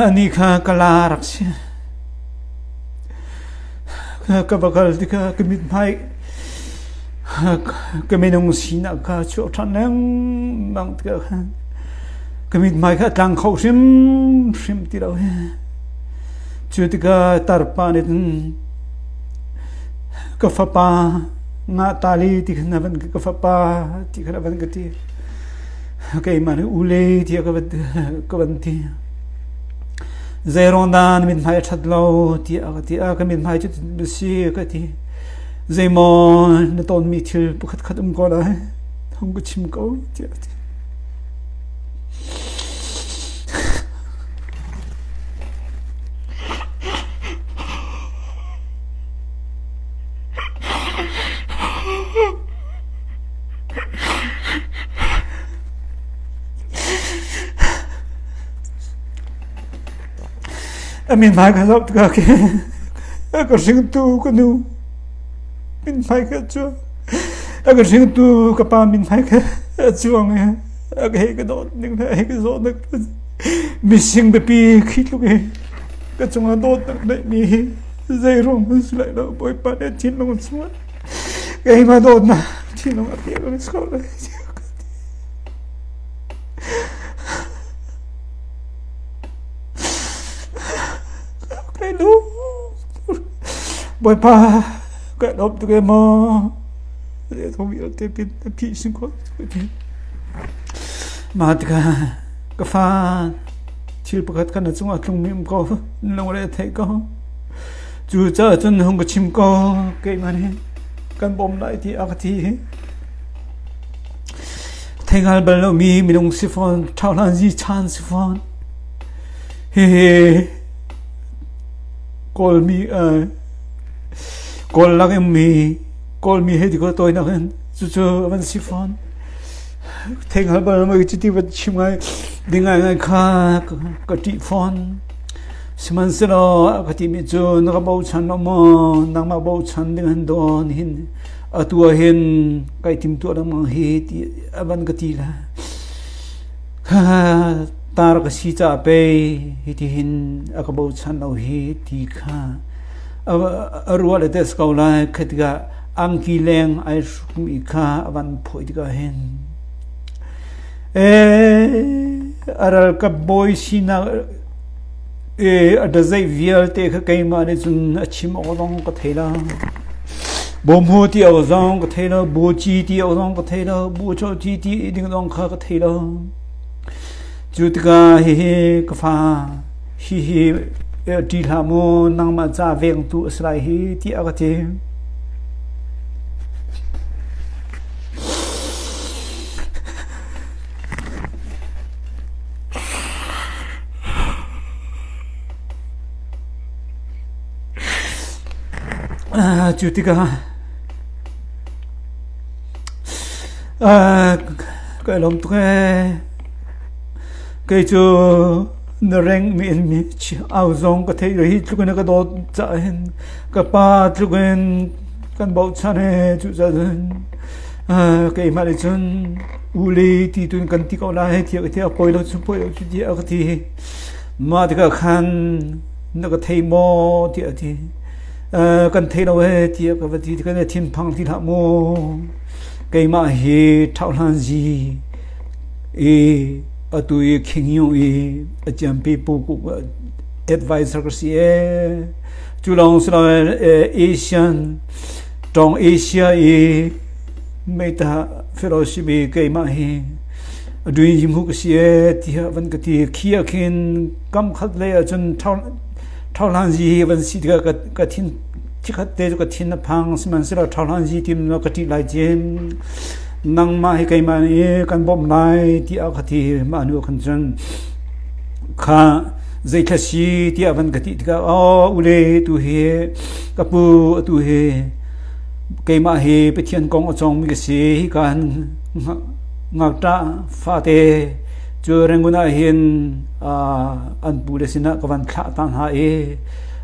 Anih kha ka la rak si. Ka bakal ti kha ka mithmai ka minung sinak kha chuah ṭhan lengmang ti khan ka mithmai kha tlang kho hrim hrim ti lo hi cu tikah tarpa nih cun ka fapa Ngahtali ti khan a van ka fapa ti khan a van ka ti. Keimah nih ule tiah ka van, ka van ti. Zeiruang dah na mithmai a ṭhat lo tiah ka ti. A ka mithmai cu na si ka ti. Zeimaw na tawnmi thil pakhatkhat um ko lai. Hong ka chim ko tiah ka ti. A min hmai kha zoh tikah khin a ka hringtu ka nu min hmai kha cu a ka hringtu ka pa min hmai kha a chuang i a ka hei ka dawt ning le a hei ka zawt nak mi sing biapi khi tluk hi ka cungah dawt nak neih mi hi Zeiruang hmanh si lai lo, Bawipa nih thinlung chungah keimah dawtnak thinlung a pek rih ko lai. Kai lu. Bawipa, kai lawm tuk em maw? Zei thawng vialte pin na phih sin ko. Mah tikah ka fa thil pakhat kan a cungah tlung mim ko in lungre theih ko cu caah cun hung ka chim ko keimah nih kan bawm lai ti a ka ti theingal bal lo mi minung si fawn thauhlan zi chan si fawn hehe kawlmi kawl lak in mi kawlmi he ti ko tawinak in cucu van si fawn theng hal bal mai cuti va chim ngai ding ngai ngai kha ka ti fawn sihmanhselo ka ti mi cu na ka bochan lo maw nangmah bochan ding han don hin atua hin kai tim tua lamang hi ti avan ka ti la ha tar ka si cha pe hi ti hin aka bochan lo hi ti kha arua le tes ko lai khatika angki leng ai hrukmi kha a van phoih tikah hin e a ralkap bawi sinak e a dazai vialte kha keimah nih cun a chim awk zong ka thei la bawmhu ti awk zong ka thei lo buci ti awk zong ka thei lo bucho ti ti ding zong kha ka thei lo cu tikah hihi ka fa Hihi el ṭi hlah maw, nangmah ca vengtu a si lai hi, tiah a ka ti. Cu tikah ka i lawm tuk ee. Kei cu Na rengmi in mi au zong ka theih lo. Hi tluk in a ka dawt caah hin ka pa tluk in kan bochan ee. Cucaah cun uh, keimah nih cun u le ti tu in kan ti ko lai hei tiah ka ti. A poi lo cu poi lo cu ti a ka ti. Mah tikah khan na ka thei maw tiah a ti. Uh, kan thei lo ee tiah ka va ti. Kan i thinphang ti hlah mu. Keimah hi ṭhauhlan zi I atu i khingyu i a ciampi pu advisor ka si ee. Cu lawng si lo Asian tawng Asia i meita fellowship i keimah hi aduin him hu ka si e tiha van ka ti khia khin kam khat le acun thau thau hlan zi hi van si tika ka thin Chikhat te cu ka thin a phang, sihmanhsehlaw ṭhaohlan zitim cu ka ṭih lai cem. Nangmah hi keimah nih kan bawmh lai, tiah ka ti. Mah hnuah khan cun, Kha zeitlai si tiah van ka ti tikah, Aw, ule, atu hi ka pu, atu hi keimah hi Pathian kong a cawngmi ka si. Hika hin ngakṭah fate cu Rangoon ah hin an pule sinah ka van thlah ta hna i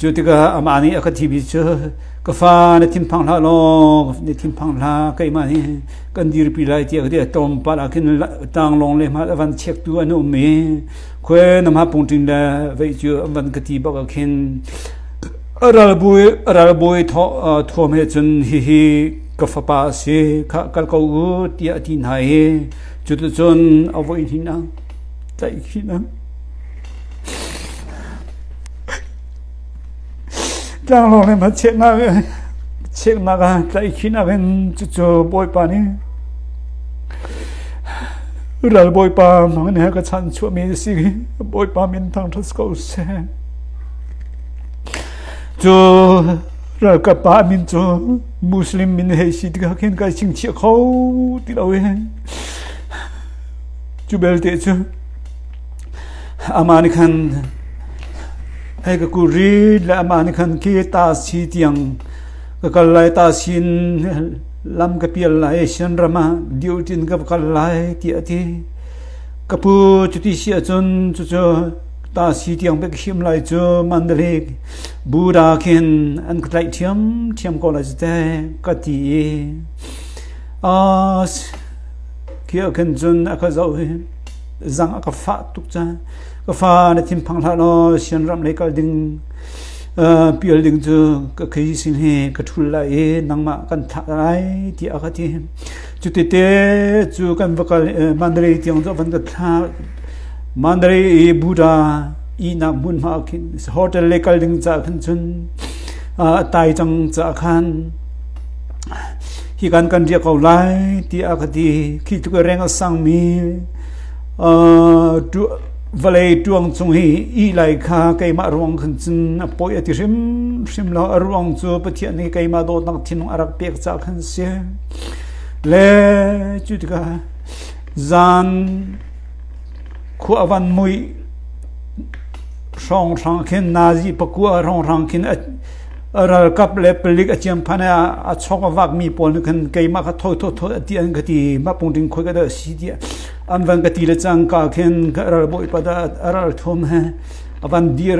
Cu tikah amah nih a ka thimi cu ka fa na thinphang hlah law na thinphang hlah keimah nih kan dirpi lai tiah ka ti tlawmpal ah khin tang lawng le hmal a van chektu an um i khwe namha pungṭin le vei cu an van ka ti bak ah khin a ralbawi a ralbawi thuam he cun hihi ka fapa a si kha kal ko u tiah a ti hna i cuticun a voi hninang tlaih hninang tlanglawng in a cheknak cheknak ah tlaih khihnak in cucu bawipa nih ral bawipa mang he ka chan chuahmi a si bawipa min thang ṭhat ko seh cu ralkap pa min cu Muslim min hei si tikah khin kai chingchiah kho ti lo i cu belte cu amah nih khan hei ka kul rit le amah nih khan ke ta si tiang ka kal lai ta sin lam ka pial lai sian ram ah diul tin ka kal lai ti a ti ka pu cu ti si ahcun cucu ta si tiang pe ka him lai cu mandalik Buddha khin an ka tlaih ṭhiamṭhiam ko lai cu teh ka ti i khi ah khin cun a ka zoh i zang a ka fah tuk cang. Ka fa na thinphang hlah law sian ram lei kal ding pial ding cu ka khei sin hi ka ṭhul lai i nangmah kan thah lai tiah a ka ti. Cutete cu kan va kal Mandalay tiang cu van kan thla Mandalay i Buddha ihnak hmun hma khin hotel le kal ding ca khan chun tai cang ca khan hi kan kan ria ko lai ti a ka ti khi tu reng a sang mi vale tuang chung hi i lai kha keimah ruang khan cun a poi a ti hrim hrim lo a ruang cu pathian nih keimah dawtnak thinung a rak pek ca khan si Le cu tikah zan khua a van muih hrawnghrang khin nazi pakua hrawnghrang khin a ralkap le palik a ciam phan ah a chawk a vakmi pawl nih khan keimah kha thawi thawthawi a ti an ka ti mapung ding khoi ka dah si tiah an van ka ti le cangka khin ka ralbawi pa dah a ral thum he a van dir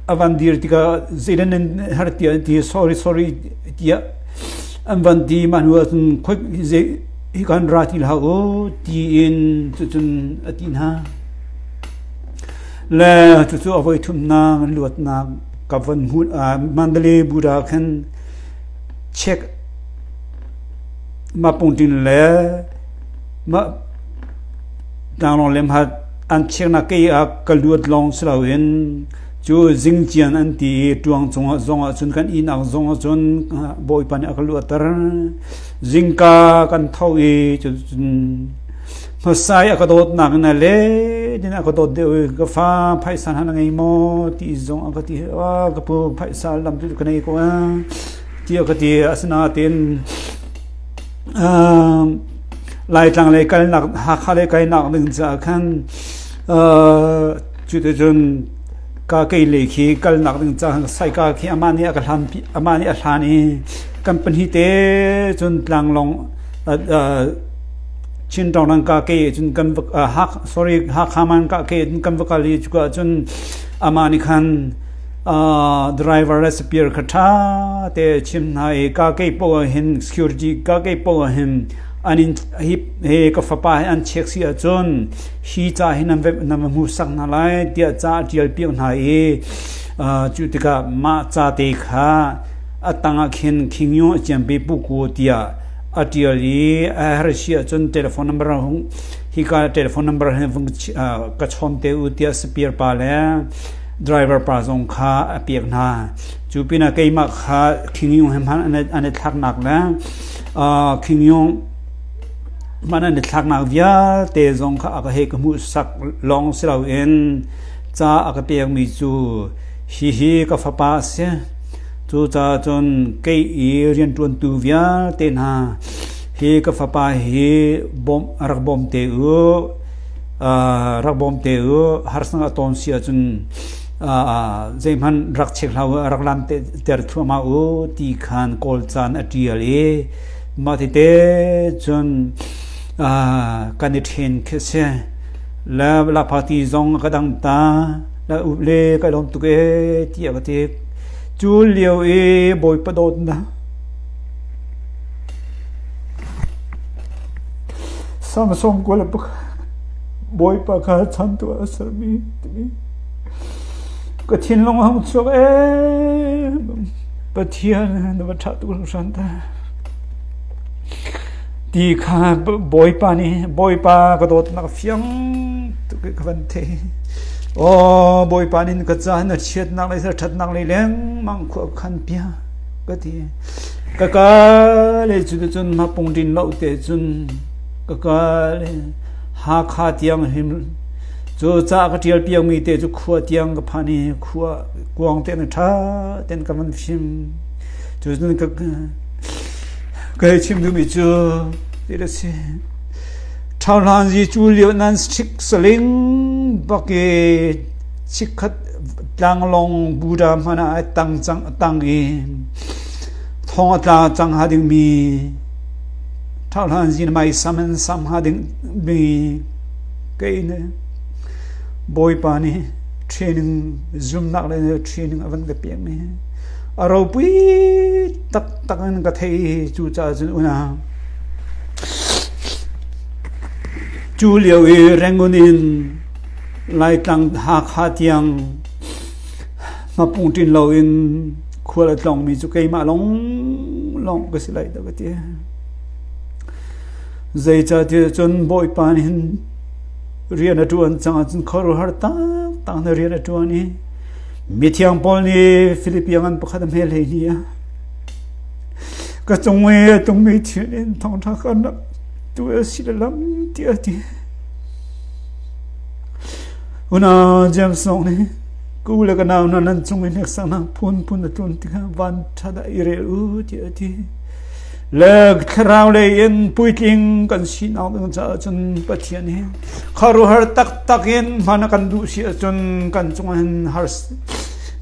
a van dir tikah zeidan har ti ti sorry sorry tiah An van ti mah hnu ahcun khuik hi kan ra ti hlah u tiin cucun a ti hna. Le cucu a voi thumnak an luatnak ka van hmu ah Mandale Buddha khan check ma pungtin le ma danglong lemhat an cheknak ke ah ka luat lawng si loin cu zingcian an ti i ṭuang cungah zongah cun kan ihnak zongah cun Bawipa nih a ka luatter. Zingka kan tho i cucun hmasa i a ka dawtnak in a let in a ka dawt deuh i ka fa phaisa hna na ngei maw ti zong a ka ti a ka pu phaisa lam cu ka nei ko a ti a ka ti asinain laitlang lei kalnak Hakha lei kalnak ding caah khan Cuticun ka keile khi kalnak ding caan saika khi amah nih a ka hlan amah nih a hlan i kan pahnih te cun tlanglong Chin tawng ka ke cun kan sorry Hakhaman ka ke cun kan va kal i cuka cun amah nih khan driver le superior kha ṭha te chim hna i ka ke pawh hin security ka ke pawh hin an in hi ka fapa he an check si ahcun hi ca hi nan vemh nan va hmuhsak hna lai tiah ca a ṭialpiak hna i cu tikah mah cate kha a tangah khin khingyu a ciampi puku tiah a ṭial i a har si ahcun telephone number hung hika telephone number hi vung ka chawm te u tiah spear pa le driver pa zong kha a piak hna cu pinah keimah kha khingyu he hman an i thlaknak le khingyu Hman an i thlaknak vialte zong kha a ka hei ka hmuhsak lawng si loin ca a ka pekmi cu hihi ka fapa a si. Cucaah cun kei i rianṭuantu vialte hna hi ka fapa hi bawmh rak bawm te u, uh, rak bawm te u. Harsang a tawn si ahcun uh, zeihmanh rak chek hlah u, rak lam ter thluahmah u ti khan kawl caan a ṭial i Mah tite cun kan i ṭhen khi a si. Le lak party zong a ka dang ta. Le up le ka lawm tuk ee tiah ka ti. Cu lio i Bawipa dawtnak Samsung kual buk Bawipa kha chan tu a sermi timi ka thinlung hang chuak em Pathian na va ṭha tuk hran ta. Ti kha Bawipa nih Bawipa ka dawtnak a fiang tuk i ka van theih. Aw Bawipa nih ka caan na chiatnak le ṭhatnak le lengmang khua khan pia ka ti. Ka ka le cu cun na pungdin lo te cun ka ka le Hakha tiang him cu ca ka ṭial piangmi te cu khua tiang ka phan i khua kuang te na ṭha ten ka van fim. Cun ka, ka hei chim duhmi cu, ti a si. Thauhlan zi cu lio nan sik saling bake chikhat tlanglong buda mana ai tang cang tang i thong a tla cang ha ding mi thauhlan zi mai saman sam ha ding mi kein bawipa nih training zumnak le training a van ka pek mi a ropui taktak in ka theih i cucaah cun unau cu lio i Rangoon in Laitlang Hakha tiang ngapung ṭin loin khual a tlawngmi cu keimah lawng lawng ka si lai dah ka ti. Zeicahtiah cun Bawipa nih hin rian a ṭuan cangah cun khuaruahhar taktak na rian a ṭuan i Mithiang Paul nih Philippians an pakhat a hme hlei hi a ka cung i tungmi thil in thawngṭha kan rak tu a si le lam ti a ti. Una James Song nih ku le ka nau hna nan cung in hneksaknak phunphun a tlun tikah van ṭha da i rel u ti a ti. le thlarau lei in puitling kan sinak ding caah cun Pathian hi kharuhar taktak in hman a kan duh si ahcun kan cungah hin har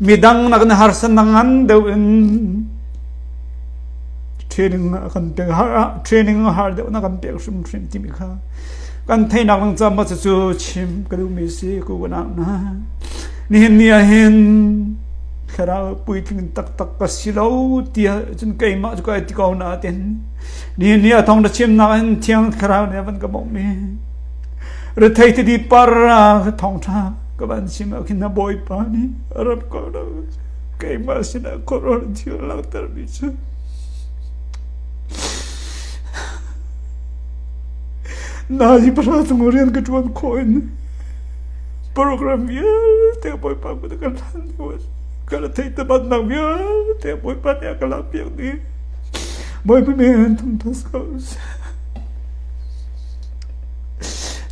midang nakin harsan ngan deuh in training a kan pek har ah training a har deuh na kan pek hrim hrim timi kha kan theinak ding caah ma cu chim ka duhmi si ku ka na nihin ni ah hin thlarau puitling taktak ka si lo tiah cun keimah cu ka ti ko na tin ni ni a thong na chimnak in thiang thlarau nih van ka bok mi rethei ti di par ra ka thong tha ka van sim a khin na boy pa ni arab ko lo keimah sin a koror thi lang ter mi chu na hi pasal chung rian ka tuan khoin Program vialte Bawipa kut ah kan hlan hnu ah ka la theih tebannak vialte Bawipa nih a ka lakpiak dih. Bawipa nih an tum thus ko seh.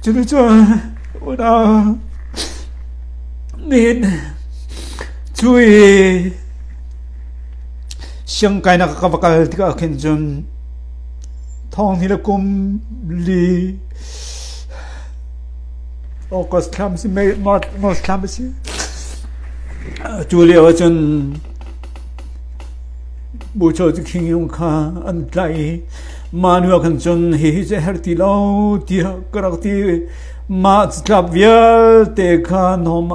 Cuticun unau nihin cui siangkai na ka va kal tikah khin cun thawng ni le kum li August thlam si May March thlam a si. Atu lio ahcun Bucho cu khingyung kha an tlaih i manual khan cun hihi cu her ti lo tiah ka rak ti mah tlap vialte kha nom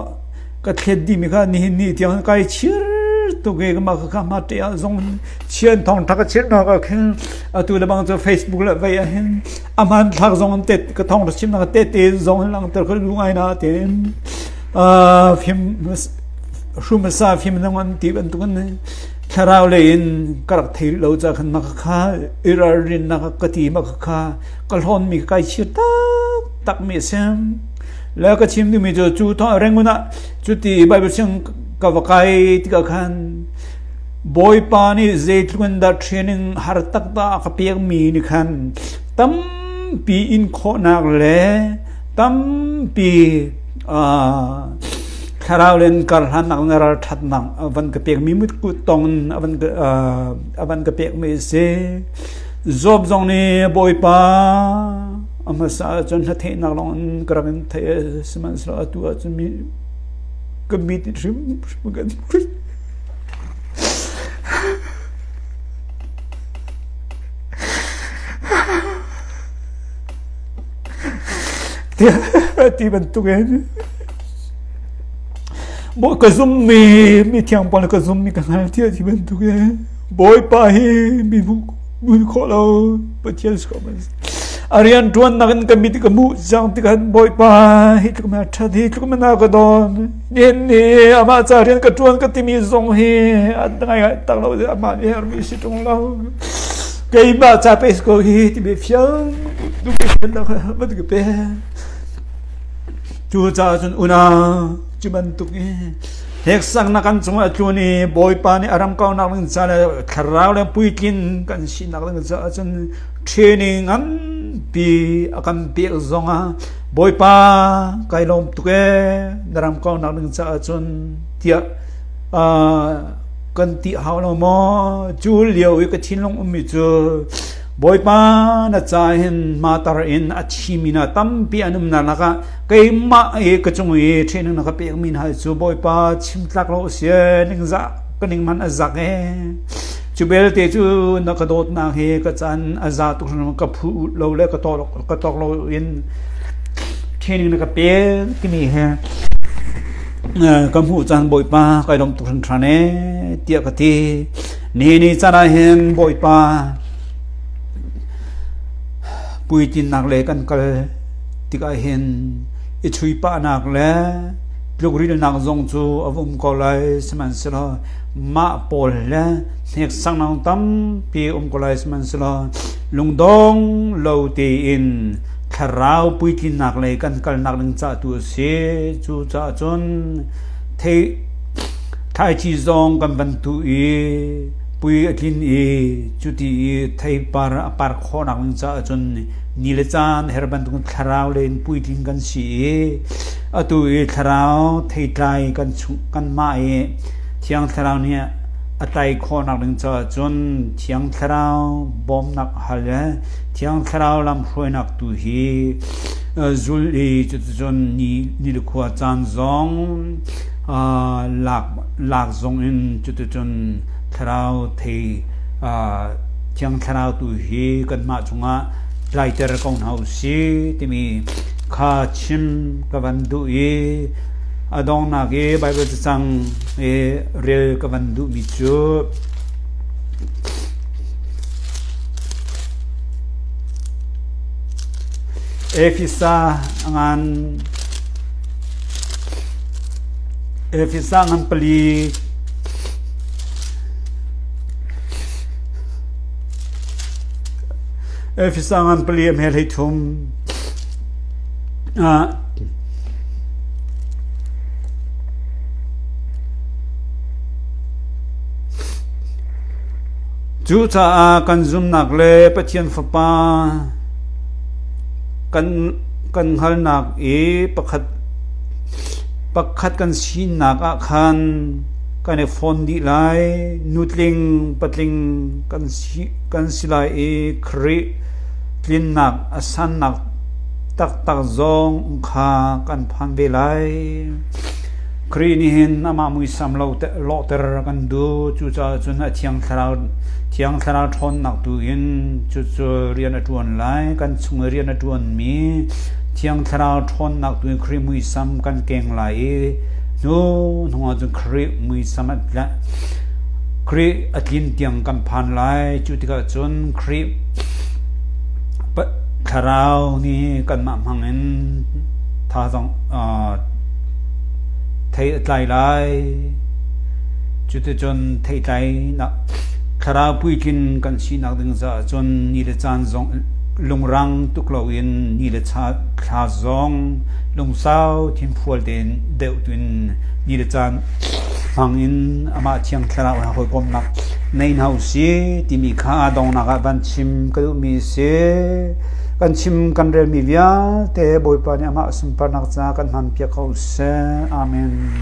ka thlet dimi kha nihin ni tiang kai chir tuk i mah kha ma te ah zong chian thong thak a chir na ka khin atu le bang cu Facebook le vei ah hin a hmanthlak zong an tet ka thong ra chim na te te zong in langhter ka lu ngai na te in uh, phim hrum sa phim nang an ti ban tukun thlarau le in karak thei lo cha khan na kha irar rin na ka ti ma kha ka hlon mi kai chir tak tak mi sem la ka chim ni mi jo chu tho rengun a chu ti bible sing ka vakai ti ka khan Bawipa nih zeitluk in dah training har taktak a ka pekmi nih khan tampi in khawhnak le tampi thlarau le in karhlannak le ralṭhatnak a van ka pekmi mutkut tong in a van ka, uh, a van ka pekmi a si. Job zong nih Bawipa a hmasa ahcun hla theihnak lawng in ka rak in theih sihmanhsehlaw atu ahcun mi ka mit hrimhrim kan a ti bantukin maw ka zummi mi thiangpa le ka zummi ka hna ti a ti bantukin bawipa hi mi mun khawh lo pathian si ko man a rian tuan nak in ka mit ka mu jang tikhan bawipa hi tluk ma that hi tluk ma na ka don din ni amah ca rian ka tuan ka timi zong hi an ngai ngai tak lo de amah mi her mi si tung lo keimah ca pe ko hi ti be fial du ke pen la ma du pe tu ca chun una chiman tuk i hek sang na kan chung a tlun i bawipa ni aram kau nak ling sa le thlarau le puitlin kan si nak ling sa chun training an pi akam pek zong a Bawipa, kai lawm tuk ee, na ram kaunak ding caah cun tiah kan ti hau lo maw? Cu lio i ka thinlung ummi cu Bawipa na ca hin matar in a thimi hna tampi an um hna lakah keimah i ka cung i ṭhehning na ka pekmi hna cu Bawipa chim tlak lo u sih, ningzah ka ning hmanh a zak ee. Cu belte cu na ka dawtnak hi ka can a za tuk hrim ka phu lo le ka tok ka tok lo in training na ka pe timi he ka hmuh cang bawipa kai lom tuk hran than e tiah ka ti ni ni can ah hin bawipa puitinnak le kan kal tikah hin i chuipa nak le tluk rilnak zong cu a um ko lai sihmanhsehlaw Mah pawl le hneksaknak tampi um ko lai sihmanhsehlaw lungdong lo tein thlarau puitlinnak lei kan kalnak ding ca tu a si. Cucaah cun thlaici zong kan van tuh i pui a tlin i cuti i theipar a par khawhnak ding caah cun ni le caan her bantuk thlarau le in puitlin kan si i atu i thlarau theitlai kan mah i Thiang Thlarau nih a tei khawhnak ding caah cun Thiang Thlarau bawmnak hal le Thiang Thlarau lamhruainak tu hi zul i cuticun ni le khua caan zong lak zong in cuticun Thlarau thei Thiang Thlarau tu hi kanmah cungah tlaiter ko hna usih timi kha chim ka van duh i. A donghnak i Baibal cacang i rel ka van duhmi cu Efesa ngan Efesa ngan pali Efesa ngan pali a hmel hei thum. Ah, Cucaah kan zumnak le Pathian Fapa kan hngalnak i pakhat pakhat kan sinak ah khan kan i fawn dih lai. Nutling, patling kan si, kan si lai i Khrih tlinnak a sannak Taktak zong kha kan phan ve lai. Khrih nih hin amah muisam lawhter kan duh. Cucaah cun a thiang thlarau, thiang thlarau ṭhawnnak tu in cucu rian a ṭuan lai. Kan chung i rian a ṭuanmi thiang thlarau ṭhawnnak tu in Khrih muisam kan keng lai i hnu hnuah cun Khrih muisam a tla Khrih a tlin tiang kan phan lai. Cu tikah cun Khrih Thlarau nih kanmah hmangin tha zong thei a tlai lai. Cuticun theitlainak thlarau puitlin kan sinak ding caah cun ni le caan zong lungrang tuk loin ni le thla zong lungsau thinfual tein deuh tuin ni le caan hmangin amah Thiang Thlarau in a hawikomhnak nei hna usih timi kha aa dongnak ah van chim ka duhmi a si. Kan chim kan relmi vialte Bawipa nih amah sunparnak caah kan hmanpiak ko seh. Amen.